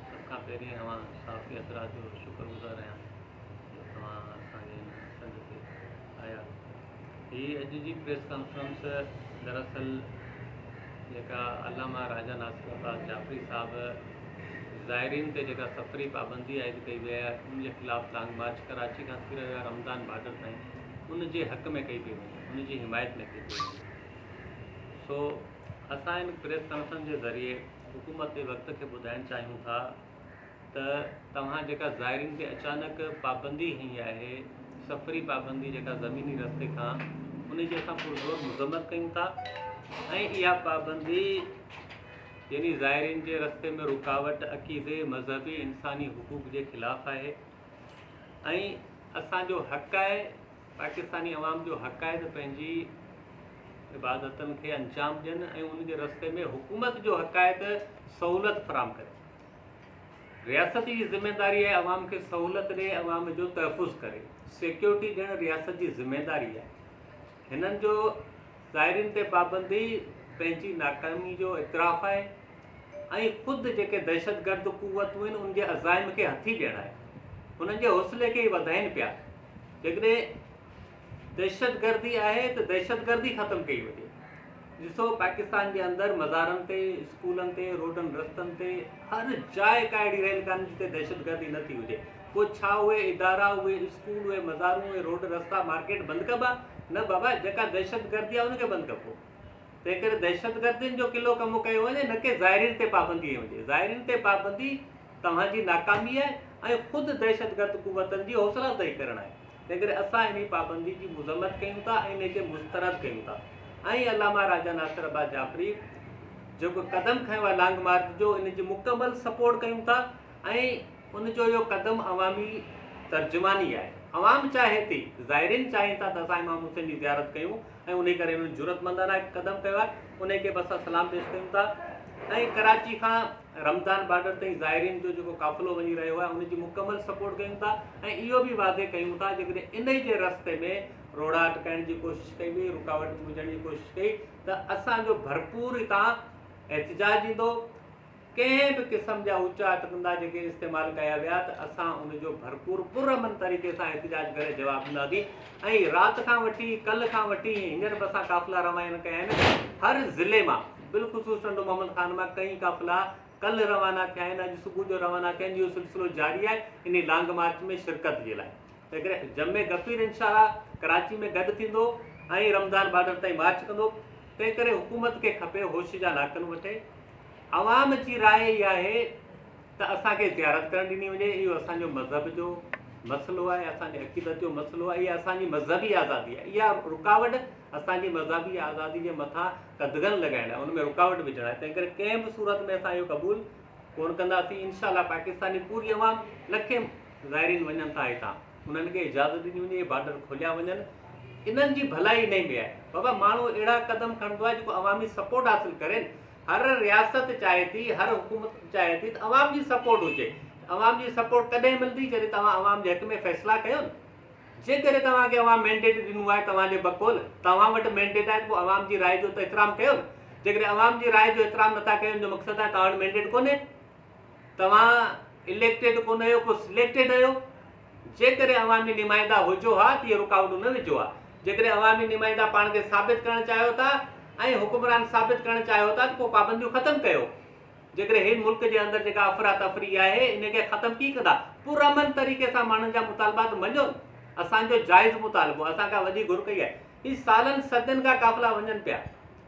سڀ کان پهرين اوهان صحافي حضرات جو شڪر گذار آهيان جو توهان اسان جي هن سنڌ تي آيا هي اڄ جي پريس ڪانفرنس دراصل جيڪا علامه راجا ناصر عباس جعفري صاحب ظاهرين تي جيڪا سفري پابندي عائد ڪئي وئي آهي ان جي خلاف لانگ مارچ ڪراچي کان ٿي رهيو آهي رمضان بارڊر تائين ان جي حق ۾ ڪئي پئي وڃي ان جي حمايت ۾ ڪئي پئي وڃي سو اسان ان پريس ڪانفرنس جي ذريعي حڪومت تي وقت کي ٻڌائڻ چاهيون ٿا ته توهان جيڪا زائرين تي اچانڪ پابندي هنئي آهي سفري پابندي جيڪا زميني رستي کان ان جي اسان پرزور مذمت ڪيون ٿا ۽ اها پابندي يعني زائرين جي رستي ۾ رڪاوٽ عقيدي مذهبي انساني حقوق جي خلاف آهي ۽ اسان جو حق آهي پاڪستاني عوام جو حق آهي ته پنهنجي عبادتن کي انجام ڏين ۽ ان جي رستي ۾ حڪومت جو حق آهي ته سهولت فراهم ڪري. رياست جي ذميواري آهي عوام کي سهولت ڏئي عوام جو تحفظ ڪري. سيڪيورٽي ڏيڻ رياست جي ذميواري آهي. هنن جو. ظاهرين تي پابندي پنهنجي ناڪامي جو اعتراف آهي ۽ خود جيڪي دهشتگرد قوتون آهن ان جي عزائم کي هٿي ڏيڻ آهي انهن جي حوصلي کي ئي وڌائين پيا جيڪڏهن دهشتگردي آهي ته دهشتگردي ختم ڪئي وڃي ڏسو پاڪستان جي اندر مزارن تي اسڪولن تي روڊن رستن تي هر جاء ڪا اهڙي ريل ڪانه جتي دهشتگردي نه ٿي هجي پوء ڇا اهي ادارا، اهي اسڪول، اهي مزارون، اهي روڊ، رستا، مارڪيٽ بند ڪبا؟ نه بابا، جيڪا دهشتگردي آهي ان کي بند ڪبو. تنهنڪري دهشتگردين جو قلعو ڪمو ڪيو وڃي نه ڪي ظاهرين تي پابندي هنئي وڃي. ظاهرين تي پابندي توهان جي ناڪامي آهي ۽ خود دهشتگرد قوتن جي حوصلا افزائي ڪرڻ آهي. تنهنڪري اسان انهي پابندي جي مذمت ڪيون ٿا ۽ انهي کي مسترد ڪيون ٿا ۽ علامه راجا ناصر عباس جعفري جيڪو قدم کنيو آهي لانگ مارچ جو ان جي مڪمل سپورٽ ڪيون ٿا ۽ ان جو اهو قدم عوامي ترجماني آهي. عوام چاهي ٿي، زائرين چاهين ٿا ته اسان امام حسين جي زيارت ڪيون ۽ انهي ڪري انهن جرئتمندانه هڪ قدم ڪيو آهي، انهي کي به اسان سلام پيش ڪيون ٿا ۽ ڪراچي کان رمضان بارڊر تائين زائرين جو جيڪو قافلو وڃي رهيو آهي ان جي مڪمل سپورٽ ڪيون ٿا ۽ اهو به واضح ڪيون ٿا جيڪڏهن انهي جي رستي ۾ روڙا اٽڪائڻ جي ڪوشش ڪئي وئي، رڪاوٽ وجهڻ جي ڪوشش ڪئي ته اسان جو ڀرپور هتان احتجاج ايندو. ڪنهن به قسم جا اوچا اٽڪندا جيڪي استعمال ڪيا ويا ته اسان ان جو ڀرپور پرامن طريقي سان احتجاج ڪري جواب ڏينداسين ۽ رات کان وٺي ڪلهه کان وٺي هينئر به اسان قافلا روانه ڪيا آهن هر ضلعي مان بالخصوص ٽنڊو محمد خان مان ڪئين قافلا ڪلهه روانه ٿيا آهن اڄ صبح جو روانه ٿيا آهن اهو سلسلو جاري آهي انهي لانگ مارچ ۾ شرڪت جي لاء تنهن ڪري جمع غفير انشاءالله ڪراچي ۾ گڏ ٿيندو ۽ رمضان بارڊر تائين مارچ ڪندو تنهن ڪري حڪومت کي کپي هوش جا لاکن وٺي عوام جي راء اها آهي ته اسان کي زيارت ڪرڻ ڏني وڃي، اهو اسان جو مذهب جو مسئلو آهي، اسان جي عقيدت جو مسئلو آهي، اها اسان جي مذهبي آزادي آهي، اها رڪاوٽ اسان جي مذهبي آزادي جي مٿان قدغن لڳائڻ آهي، ان ۾ رڪاوٽ وجهڻ آهي، تنهنڪري ڪنهن به صورت ۾ اسان اهو قبول ڪونه ڪنداسين، انشاء الله پاڪستان جي پوري عوام لکين زائرين وڃن ٿا هتان. انهن کي اجازت ڏني وڃي، اهي بارڊر کوليا وڃن، انهن جي ڀلائي انهي ۾ آهي. بابا ماڻهو اهڙا قدم کڻندو آهي جيڪو عوامي سپورٽ حاصل ڪرين، هر رياست چاهي ٿي، هر حڪومت چاهي ٿي ته عوام جي سپورٽ هجي، عوام جي سپورٽ ڪڏهن ملندي جڏهن توهان عوام جي حق ۾ فيصلا ڪيو نه، جيڪڏهن توهان کي عوام مينڊيٽ ڏنو آهي توهان جي بقول توهان وٽ مينڊيٽ آهي ته پوء عوام جي راء جو ته احترام ڪيو نه، جيڪڏهن عوام جي راء جو احترام نٿا ڪيون جو مقصد آهي توهان وٽ مينڊيٽ ڪونهي. توهان اليڪٽيڊ ڪونه هيو ڪو سليڪٽيڊ هيو جيڪڏهن عوامي نمائندا هجو ها ته اهي رڪاوٽون نه وجهو ها جيڪڏهن عوامي نمائندا پاڻ کي ثابت ڪرڻ چاهيو ٿا ۽ حڪمران ثابت ڪرڻ چاهيو ٿا ته پوء پابنديون ختم ڪيو جيڪڏهن هن ملڪ جي اندر جيڪا افراتفري آهي ان کي ختم ڪي ڪندا پرامن طريقي سان ماڻهن جا مطالبات مڃو اسان جو جائز مطالبو اسان کان وڏي گهر ڪئي آهي هي سالن صدين کان قافلا وڃن پيا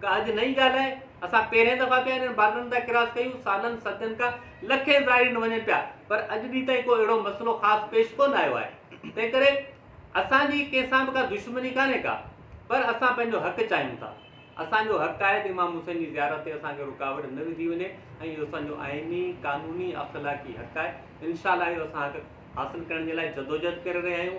ڪا اڄ نئين ڳالهه آهي. اسان پهرين دفعا پيا انهن بارڊرن تان ڪراس ڪيون. سالن صدين کان لکين زائرين وڃن پيا پر اڄ ڏينهن تائين ڪو اهڙو مسئلو خاص پيش ڪونه آيو آهي. تنهن ڪري اسان جي ڪنهن سان به ڪا دشمني ڪانهي ڪا پر اسان پنهنجو حق چاهيون ٿا. اسان جو حق آهي ته امام حسين جي زيارت تي اسان کي رڪاوٽ نه وڌي وڃي ۽ اهو اسان جو آئيني، قانوني، اخلاقي حق آهي. انشاء الله اهو اسان حق حاصل ڪرڻ جي لاء جدوجهد ڪري رهيا آهيون.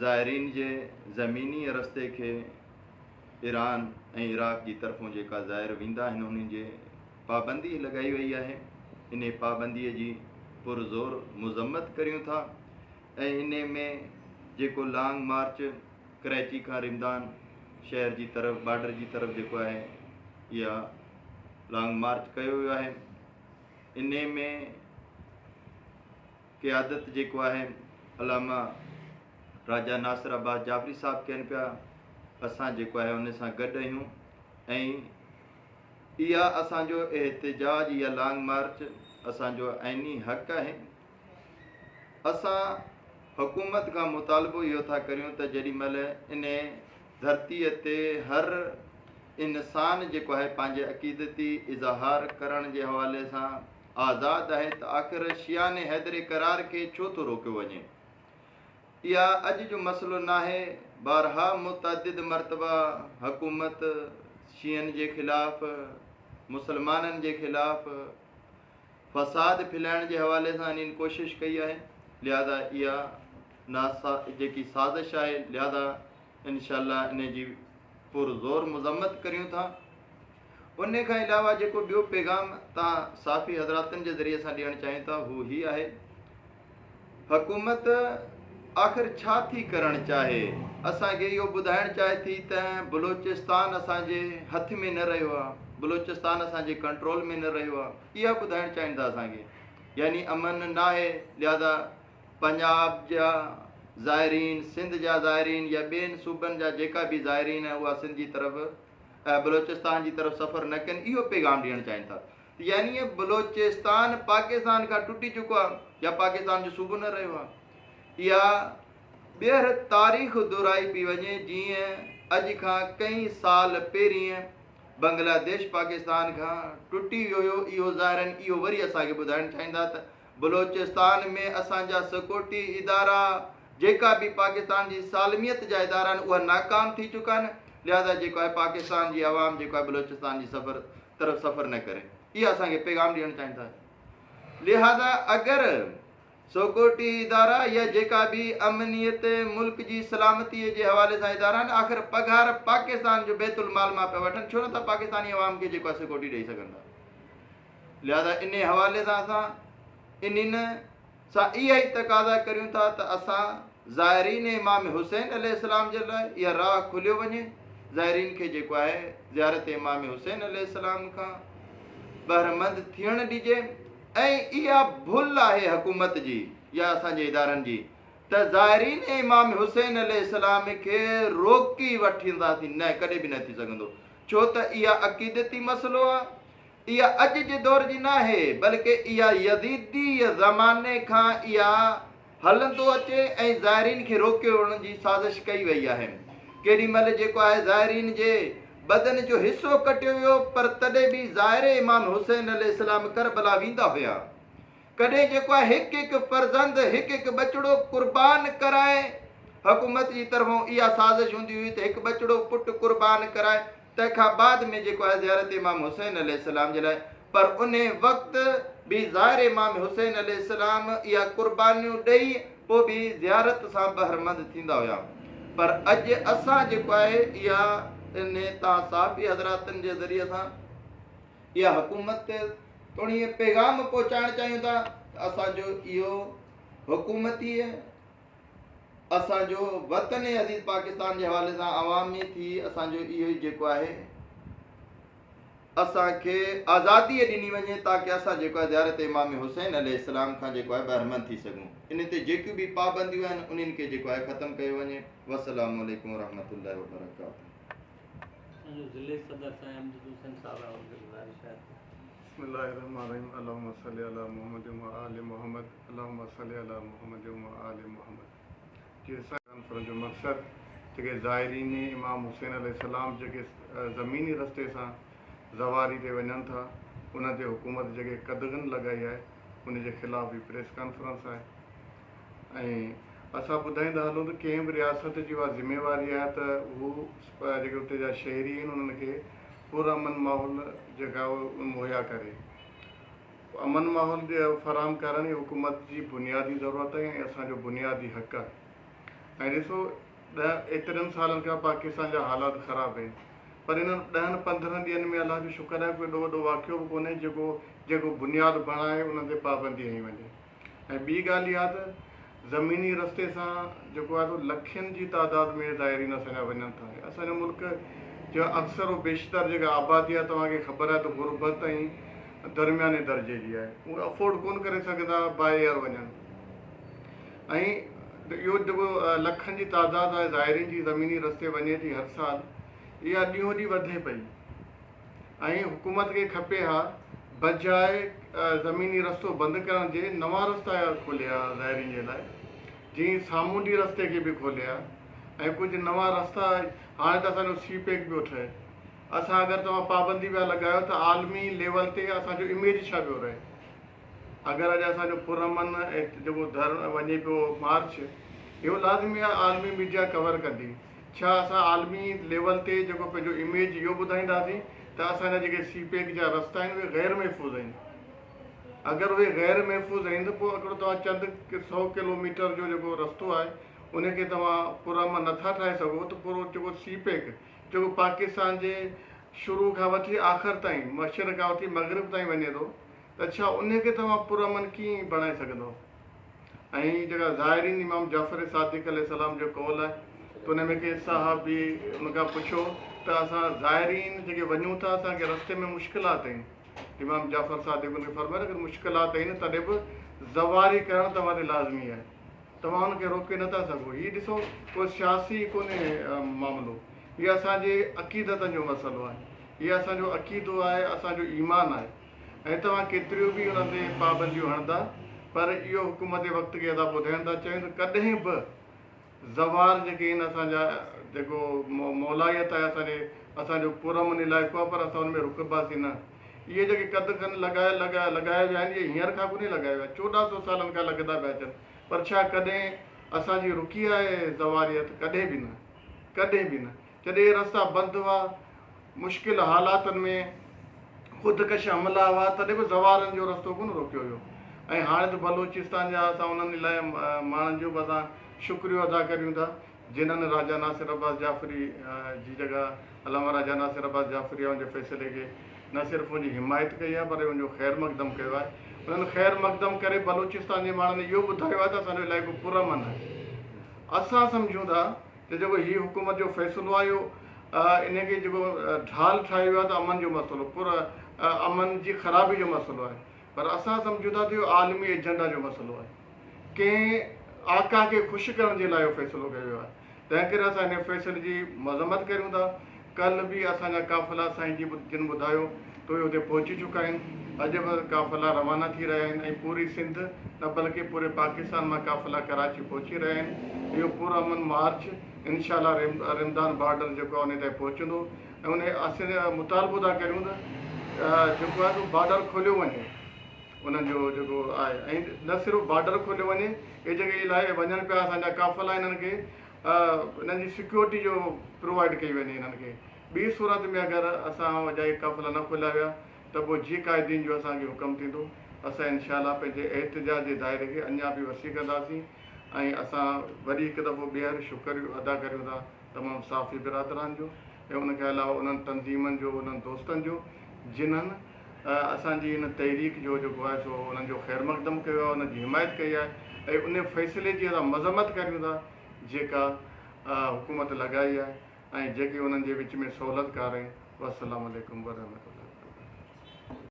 زائرين جي زميني رستي کي ايران ۽ عراق جي طرفون جيڪا زائر ويندا آهن انهن جي پابندي لڳائي وئي آهي انهي پابندي جي پرزور مذمت ڪريون ٿا ۽ انهي ۾ جيڪو لانگ مارچ ڪرائچي کان رمضان شهر جي طرف بارڊر جي طرف جيڪو آهي يا لانگ مارچ ڪيو ويو آهي انهي ۾ قيادت جيڪو آهي علامه راجا ناصر عباس جعفري صاحب ڪين پيا اسان جيڪو آهي ان سان گڏ اهيون ۽ اها اسان جو احتجاج يا لانگ مارچ اسان جو آئيني حق آهي اسان حڪومت کان مطالبو اهو ٿا ڪريون ته جيڏي مهل ان ڌرتي تي هر انسان جيڪو آهي پنهنجي عقيدتي اظهار ڪرڻ جي حوالي سان آزاد آهي ته آخر شيانه حيدر اقرار کي ڇو ٿو روڪيو وڃي؟ اها اڄ جو مسئلو ناهي، بارها متعدد مرتبه حڪومت شيعن جي خلاف، مسلمانن جي خلاف فساد ڦھلائڻ جي حوالي سان انھين ڪوشش ڪئي آهي، لھذا اها جيڪي سازش آهي لھذا انشاء الله انهي جي پر زور مذمت ڪريون ٿا انهي کان علاوه جيڪو ٻيو پيغام تان صافي حضراتن جي ذريعي سان ڏيڻ چاهيون ٿا هو هي آهي حڪومت آخر ڇا ٿي ڪرڻ چاهي اسان کي اهو ٻڌائڻ چاهي ٿي ته بلوچستان اسان جي هٿ ۾ نه رهيو آهي بلوچستان اسان جي ڪنٽرول ۾ نه رهيو آهي اها ٻڌائڻ چاهين ٿا اسان کي يعني امن ناهي لهذا پنجاب جا زائرين، سنڌ جا زائرين يا ٻين صوبن جا جيڪا به زائرين آهن اها سنڌ جي طرف ۽ بلوچستان جي طرف سفر نه ڪن اهو پيغام ڏيڻ چاهين ٿا ته يعني بلوچستان پاڪستان کان ٽٽي چڪو آهي يا پاڪستان جو صوبو نه رهيو آهي اها ٻيهر تاريخ دهرائي پي وڃي جيئن اڄ کان ڪئي سال پهرين بنگلاديش پاڪستان کان ٽٽي ويو هيو اهو زائرين اهو وري اسان کي ٻڌائڻ چاهيندا ته بلوچستان ۾ اسان جا سيڪورٽي ادارا جيڪا به پاڪستان جي سالميت جا ادارا آهن اها ناڪام ٿي چڪا آهن لهذا جيڪو آهي پاڪستان جي عوام جيڪو آهي بلوچستان جي سفر طرف سفر نه ڪري اها اسان کي پيغام ڏيڻ چاهين ٿا لهذا اگر سيڪورٽي ادارا يا جيڪا به امنيت ملڪ جي سلامتي جي حوالي سان ادارا آهن آخر پگهار پاڪستان جو بيت المال مان پيا وٺن ڇو نه ٿا پاڪستاني عوام کي جيڪو آهي سيڪورٽي ڏئي سگهن ٿا لهذا انهي حوالي سان اسان انهن سان اها ئي تقاضا ڪريون ٿا ته اسان زائرين امام حسين عليه السلام جي لاء اها راهه کوليو وڃي زائرين کي جيڪو آهي زيارت امام حسين عليه السلام کان بهرمند ٿيڻ ڏجي ۽ اها ڀل آهي حڪومت جي يا اسان جي ادارن جي ته زائرين امام حسين عليه السلام کي روڪي وٺنداسين نه ڪڏهن به نه ٿي سگهندو ڇو ته اها عقيدتي مسئلو آهي اها اڄ جي دور جي ناهي، بلڪ اها يزيديء زماني کان اها هلندو اچي ۽ زائرين کي روڪيوڻ جي سازش ڪئي وئي آهي. ڪيڏي مهل جيڪو آهي زائرين جي بدن جو حصو ڪٽيو ويو، پر تڏهن به زائر امام حسين عليه السلام ڪربلا ويندا هيا. ڪڏهن جيڪو آهي هڪ هڪ فرزند، هڪ هڪ ٻچڙو قربان ڪرائي. حڪومت جي طرفون اها سازش هوندي هئي ته هڪ ٻچڙو پٽ قربان ڪرائي. تنهن کان بعد ۾ جيڪو آهي زيارت امام حسين عليه السلام جي لاء پر انهي وقت به زائر امام حسين عليه السلام اها قربانيون ڏئي پوء به زيارت سان بهرمند ٿيندا هيا پر اڄ اسان جيڪو آهي اها انهي تان صحافي حضراتن جي ذريعي سان اها حڪومت توڻي پيغام پهچائڻ چاهيون ٿا ته اسان جو اهو حڪومتي اسان جو وطن عزيز پاڪستان جي حوالي سان عوامي ٿي اسان جو اهو ئي جيڪو آهي اسان کي آزادي ڏني وڃي تاڪه اسان جيڪو آهي زيارت امام حسين عليه السلام کان جيڪو آهي بهرمند ٿي سگهون ان تي جيڪيون به پابنديون آهن انهن کي جيڪو آهي ختم ڪيو وڃي والسلام عليڪم ورحمة الله وبرڪاته جو ضلعي صدر سائين امجد حسين صاحب آهن گذارش آهي بسم الله الرحمن الرحيم اللهم صل على محمد وعلى ال محمد اللهم صل علی محمد و آل محمد جي حصه ڪانفرنس جو مقصد جيڪي زائرين امام حسين عليه السلام جيڪي زميني رستي سان زواري تي وڃن ٿا انهن تي حڪومت جيڪي قدغن لڳائي آهي ان جي خلاف به پريس ڪانفرنس آهي ۽ اسان ٻڌائيندا هلون ته ڪنهن به رياست جي اها ذميواري آهي ته هو جيڪي اتي جا شهري آهن انهن کي پرامن ماحول جيڪا مهيا ڪري امن ماحول فراهم ڪرڻ ئي حڪومت جي بنيادي ضرورت آهي ۽ اسان جو بنيادي حق آهي ۽ ڏسو ڏهه ايترن سالن کان پاڪستان جا حالات خراب آهن پر انهن ڏهن پندرهن ڏينهن ۾ الله جو شڪر آهي ڪو ايڏو وڏو واقعو به ڪونهي جيڪو جيڪو بنياد بڻائي انهن تي پابندي هنئي وڃي ۽ ٻي ڳالهه اها ته زميني رستي سان جيڪو آهي سو لکين جي تعداد ۾ زائرين اسان جا وڃن ٿا ۽ اسان جو ملڪ جو اڪثر و بيشتر جيڪا آبادي آهي توهان کي خبر آهي ته غربت ۽ درمياني درجي جي آهي اهي افورڊ ڪونه ڪري سگهندا باء ايئر وڃن ۽ اهو جيڪو لکن جي تعداد آهي زائرين جي زميني رستي وڃي ٿي هر سال اها ڏينهون ڏينهن وڌي پئي ۽ حڪومت کي کپي ها بجاء زميني رستو بند ڪرڻ جي نوان رستا کولي ها زائرين جي لاء جي ائين سامونڊي رستي کي به کولي ها ۽ ڪجهه نوان رستا هاڻي ته اسان جو سي پيڪ پيو ٺهي اسان اگر توهان پابندي پيا لڳايو ته عالمي ليول تي اسان جو اميج ڇا پيو رهي. اگر اڄ اسان جو پرامن جيڪو ڌر وڃي پيو مارچ اهو لازمي آهي عالمي ميڊيا ڪور ڪندي ڇا اسان عالمي ليول تي جيڪو پنهنجو اميج اهو ٻڌائينداسين ته اسان جا جيڪي سي پيڪ جا رستا آهن اهي غير محفوظ آهن اگر اهي غير محفوظ آهن ته پوء هڪڙو توهان چند سو ڪلو ميٽر جو جيڪو رستو آهي ان کي توهان پرامن نٿا ٺاهي سگهو ته پورو جيڪو سي پيڪ جيڪو پاڪستان جي شروع کان وٺي آخر تائين مشرق کان وٺي مغرب تائين وڃي ٿو ته ڇا انهيء کي توهان پرامن ڪيئن بڻائي سگهندؤ؟ ۽ هي جيڪا ظاهرين امام جعفر صادق عليه السلام جو قول آهي ته انهيء ۾ ڪنهن صحابي ان کان پڇيو ته اسان ظاهرين جيڪي وڃون ٿا اسان کي رستي ۾ مشڪلات ايئن امام جعفر صادق ان کي فرمايو اگر مشڪلات ايئن تڏهن به زواري ڪرڻ توهان تي لازمي آهي توهان ان کي روڪي نه ٿا سگهو هي ڏسو ڪو سياسي ڪونهي معاملو هي اسان جي عقيدتن جو مسئلو آهي هي اسان جو عقيدو آهي اسان جو ايمان آهي. ۽ توهان ڪيتريون به ان تي پابنديون هڻندا پر اهو حڪم تي وقت کي ادا ٻڌائين ٿا چون ته ڪڏهن به زوار جيڪي آهن اسان جا جيڪو مولائيت آهي اسان جي اسان جو پر امن علائقو آهي پر اسان ان ۾ رڪباسين نه اهي جيڪي قد کن لڳايا لڳايا لڳايا ويا آهن اهي هينئر کان ڪونهي لڳايا ويا چوڏهن سو سالن کان لڳندا پيا اچن پر ڇا ڪڏهن اسان جي رڪي آهي زواريت ڪڏهن به نه ڪڏهن به نه. جڏهن رستا بند هئا، مشڪل حالاتن ۾ خودڪش حملا هئا تڏهن به زوارن جو رستو ڪونه روڪيو ويو ۽ هاڻي ته بلوچستان جا اسان انهن الائي ماڻهن جو به اسان شڪريو ادا ڪريون ٿا جنهن راجا ناصر عباس جعفري جي جڳهه علامه راجا ناصر عباس جعفري اهونجي فيصلي کي نه صرف اهونجي حمايت ڪئي آهي پر اهونجو خير مقدم ڪيو آهي انهن خير مقدم ڪري بلوچستان جي ماڻهن اهو ٻڌايو آهي ته اسان جو علائقو پرامن آهي اسان سمجهون ٿا ته جيڪو هي حڪومت جو فيصلو آيو انهي کي جيڪو ڍال ٺاهيو ويو آهي ته امن جو مسئلو پر امن جي خرابي جو مسئلو آهي پر اسان سمجهون ٿا ته اهو عالمي ايجنڊا جو مسئلو آهي ڪنهن آقا کي خوش ڪرڻ جي لاء اهو فيصلو ڪيو ويو آهي تنهن ڪري اسان انهي فيصلي جي مذمت ڪريون ٿا. ڪلهه به اسان جا قافلا سائين جي جن ٻڌايو ته اهي اتي پهچي چڪا آهن. اڄ به قافلا روانا ٿي رهيا آهن ۽ پوري سنڌ نه بلڪه پوري پاڪستان مان قافلا ڪراچي پهچي رهيا آهن. اهو پر امن مارچ انشاء الله رمضان بارڊر جيڪو آهي انهي تائين پهچندو ۽ انهي اسين مطالبو ٿا ڪريون ته جيڪو آهي سو بارڊر کوليو وڃي انهن جو جيڪو آهي ۽ نه صرف بارڊر کوليو وڃي اهي جيڪي الاهي وڃن پيا اسان جا قافلا انهن کي انهن جي سيڪيورٽي جو پرووائيڊ ڪئي وڃي انهن کي ٻي صورت ۾ اگر اسان اجائي قافلا نه کوليا ويا ته پوء جي قائدين جو اسان کي حڪم ٿيندو اسان انشاء الله پنهنجي احتجاج جي دائري کي اڃا به وسيع ڪنداسين ۽ اسان وري هڪ دفعو ٻيهر شڪر ادا ڪريون ٿا تمام صحافي برادران جو ۽ ان کي علاوه انهن تنظيمن جو انهن دوستن جو جنهن اسان جي ان تحريڪ جو جيڪو آهي سو انهن جو خير مقدم ڪيو آهي انهن جي حمايت ڪئي آهي ۽ ان فيصلي جي اسان مذمت ڪريون ٿا جيڪا حڪومت لڳائي آهي ۽ جيڪي انهن جي وچ ۾ سهولتڪار آهن والسلام عليڪم ورحمة الله وبرڪاته.